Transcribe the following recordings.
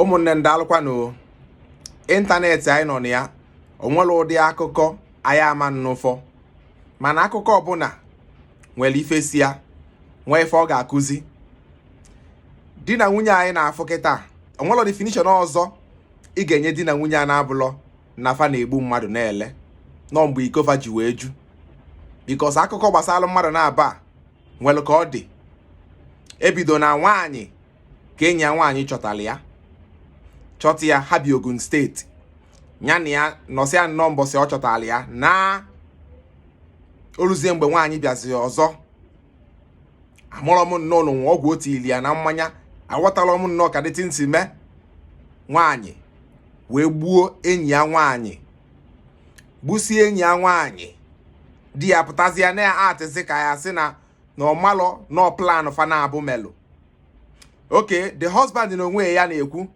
ụmụnne m daalụkwanụ ịntanetị anyị nọ na ya onwere ụdị akụkọ anyị ama nnụfọ mana akụkọ ọbụla nwere ife si ya nwee ife ọ ga-akụzi di na nwunye anyị na-afụ kịta onwere definition ọzọ ị ga-enye di na nwunye a na-abụlọ na fa na-egbu mmadụ na-ele luo mgbe iko fa ji wee ju because akụkọ gbasara mmadụ naabọ a nwere ka ọ dị ebido na nwaanyị ka enyi ya nwaanyị chọtara ya chọta ya ha bi Ogun State ya na ya nọsịa nnọọ mbọsị ọ chọtara ya na oluzie mgbe nwaanyị bịazi ọzọ amarọ m nnọọ ma o nwe ọgwụ o tiili ya na mmanya aghọtalọ m nnọọ ka the thing si mee nwaanyị wee gbuo enyi ya nwaanyị gbusie enyi ya nwaanyị di ya pụtazie na-actịzi ka a ya-asị na na ọ malọ na ọ plan fa naabọ melụ okay the husband na onwe ya na-ekwu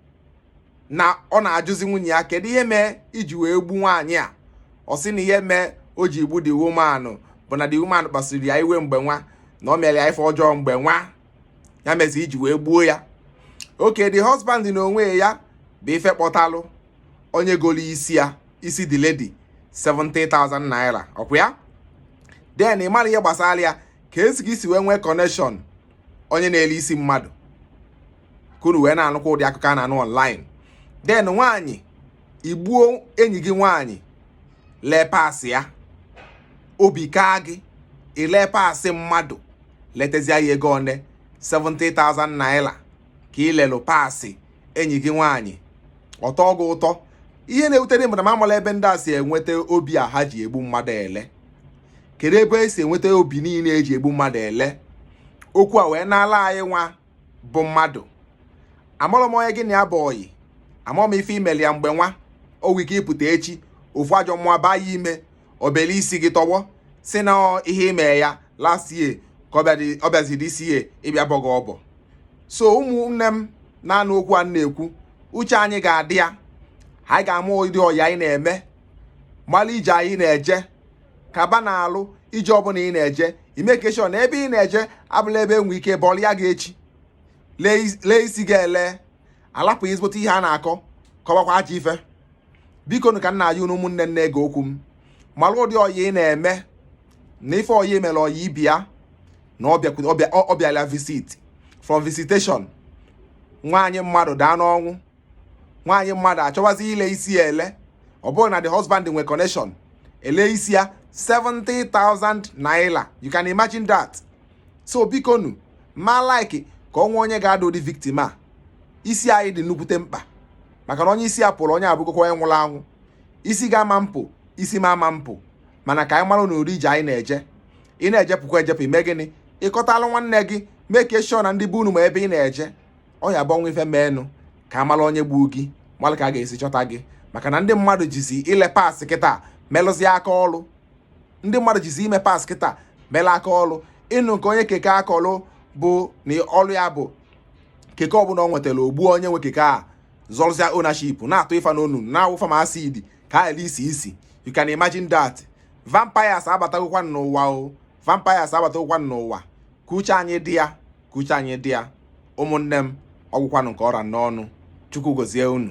na ọ na-ajụzi nwunye ya kedu ihe mee i ji wee gbu nwaanyị a ọ sị na ihe mee o ji gbu the woman bụ na the woman kpasiri ya iwe mgbe nwa na ọ mere ya ife ọjọọ mgbe nwa ya mezi o ji wee gbuo ya okay the husband na onwe ya bụ ife kpọtalụ onye goro isi ya isi the lady 70,000 naira ọkwa ya then ị mara ihe gbasara ya kezi ka i si wee nwee connection onye na-ele isi mmadụ ka unu wee na-anụkwa ụdị akụkọ a na-anụ online then nwaanyị i gbuo enyi gị nwaanyị lee parts ya obi kaa gị i lee parts mmadụ letezie ya ego one 70,000 naira ka ị lelụ parts enyi gị nwaanyị ọ tọọ gị ụtọ ihe na-ewute m bụ na m amalọ ebe ndị a si enweta obi a ha ji egbu mmadụ ele kedu ebe esi enweta obi niile eji egbu mmadụ ele okwu a wee na-ala anyị nwa bụ mmadụ amalọ m onye gị na ya bụ ọyị amalọ m ife i melụ ya mgbe nwa o nwee ike ị pụta echi ofu ajọ mmụọ baa ya ime o belu isi gị tọgbọ sị na ihe i me ya last year ka ọ bịazi this year ịbịa bọ gị ọbọ so ụmụnne m na-anụ okwu a na-ekwu uche anyị ga-adị ya anyị ga-ama ụdị ọyị anyị na-eme malụ ije anyị na-eje kaba na alụ ije ọbụla ị na-eje i make sure na ebe ị na-eje abụlọ ebe enwe ike bọọlụ ya gị echi lee isi gị ele alapụ ezigbote ihe a na-akọ kọwakwa ajọ ife biko nụ ka m na-ayọ unu ụmụnne na-ege okwu m malụ ụdị ọyị ị na-eme na ife ọyị mere ọyị ibe ya na ọ bịala visit from visitation nwaanyị mmadụ daa n'ọnwụ nwaanyị mmadụ achọwazi ile isi ya ele ọ bụrụ na the husband nwe connection ele isi ya 70,000 naira you can imagine that so biko nụ ma like ka o nwee onye ga-ada ụdị victim a isi anyị dị nnukwute mkpa maka na onye isi ya pụrụ onye abụgokwa onye nwụrụ anwụ isi gị ama apụ isi m ama apụ mana ka anyị maranụ ụdị ije anyị na-eje ị na-ejepụkwa ejepụ i mee gịnị ị kọtalụ nwanne gị make sure na ndị be unu ma ebe ị na-eje ọ ya-abụ ife meenụ ka a mala onye gbuo gị mara ka a ga-esi chọta gị maka na ndị mmadụ jizi ile parts kịta melụzie aka ọrụ ndị mmadụ jizi ile parts kịta mela aka ọrụ ị nụ nke onye keke aka ọrụ bụ na ọrụ ya bụ keke ọbụla ọ nwetara o gbuo onye nwe keke a zọrọzịa ownership na-atụ ịfa n'ọnụ na-awụ fa ma acid ka a isi isi you can imagine that vampires abatagokwa n'ụwa o vampires abatagokwa n'ụwa ka uche anyị dị ya ka uche anyị dị ya ụmụnne m ọ gwụkwanụ nke ọ ra n'ọnụ chukwu gozie unu